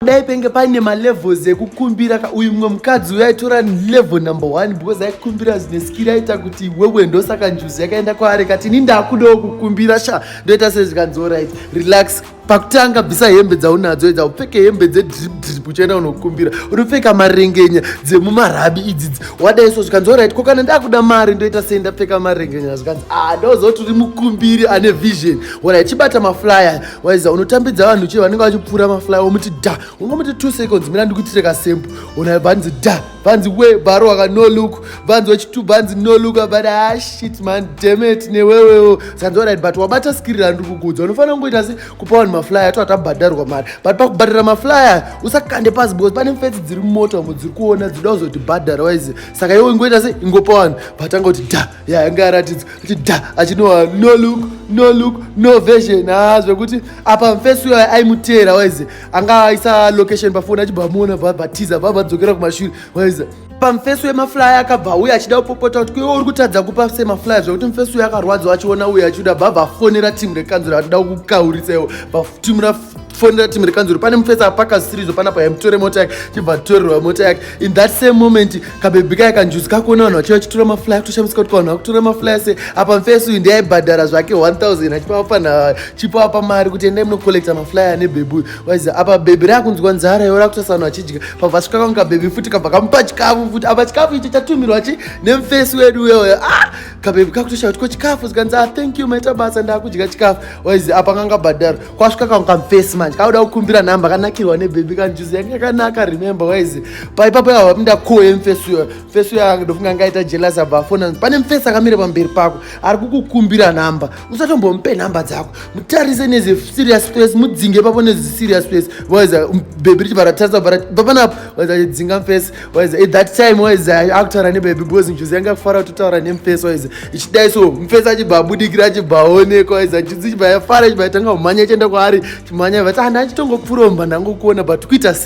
dai penge paine malevels ekukumbira ka uyu mumwe mukadzi uyo aitora level number one because aikumbira zvine skiri aita kuti wewe ndosaka njuzi yakaenda kwaari kati ini ndakudawo kukumbira sha ndoita sezvikanzi orit relax pakutanga bvisa hembe dzaunadzo idza upfeke hembe dzedripdrip uchienda unokumbira unopfeka marengenya dzemumarabi idzidzi wadai so zvikanzi orit ko kana ndakuda mari ndoita sei ndapfeka marengenya zvikanzi a ah, ndozoti uri mukumbiri ane vision orit chibata maflyer waiza unotambidza vanhu chii vanenge vachipfuura mafly womuti da ungomuti two seconds mina ndikuitire kasembo ona vanzi da vanzi we bharo waka no look vanzi wechitu vanzi no look but ah shit man demet newewewo sanzi orit but wabata skiri randiri kukudza unofanira kungoita se kupa vanhu maflyer to atabhadharwa mari but pakubhadhara maflyer usakande pasi because pane mfetsi dziri mumota umo dziri kuona dzida kuzoti bhadhara waize saka iwe ingoita se ingopa vanhu vatanga kuti da ya anga aratidza kuti da achinowa no look no look no version ha ah, zvekuti apa mfesi uyo aimuteera waize anga aisa location pafoni achibva amuona bvabhatiza bva vadzokera kumashure waize pamfesi wemaflyer akabva uye achida kupopota kuti kuiwe uri kutadza kupa semaflyer zvekuti mfesi uyo akarwadziwa achiona uye achida bva vafonera timu rekanzura vachida kukauritsa iwo timu fonera team rekanzuru pane mufesa apakasirizwa panapa yamutore mota yake chibva torerwa mota yake in that same moment kabebi kaya kanjuzi kakuona vanhu vachiva chitora maflya kutoshamisa kuti vanhu vakutora maflya se apa mufesi uyu ndiyaibhadhara zvake 1000 achipa vafana chipa apa mari kuti endai munocollecta maflya ane bebi uyu waiza apa bebi rakunzwa nzara iwo rakutosa vanhu vachidya pabva svika kwangu kabebi futi kabva kamupa chikafu futi apa chikafu icho chatumirwa chi nemufesi wedu uyoyo ah kabebi kakutoshaya kuti ko chikafu zikanzi ah thank you maita basa ndakudya chikafu waiza apa kangabhadhara kwasvika kangu kamfesi manje kauda kukumbira nhamba kanakirwa nebhebhi kanjuzi yange yakanaka remember wise paipapo yava vapinda ko yemfesi uyo mfesi uyo akandofunga angaita jelas abva afona pane mfesi akamira pamberi pako ari kukukumbira nhamba usatombomupe nhamba dzako mutarise nezi serious face mudzinge papo nezi serious face wise bhebhi richi varatarisa vapanapo wise achidzinga mfesi waize at that time waize akutaura nebaby because njuzi yanga kufara kutotaura nemfesi waize ichidai so mfesi achibva abudikira achibva aonekwa waize njuzi chibva yafara chibva yatanga kumhanya ichienda kwaari chimhanya vati hana ah, achitongopfuromba ndangokuona but kuita se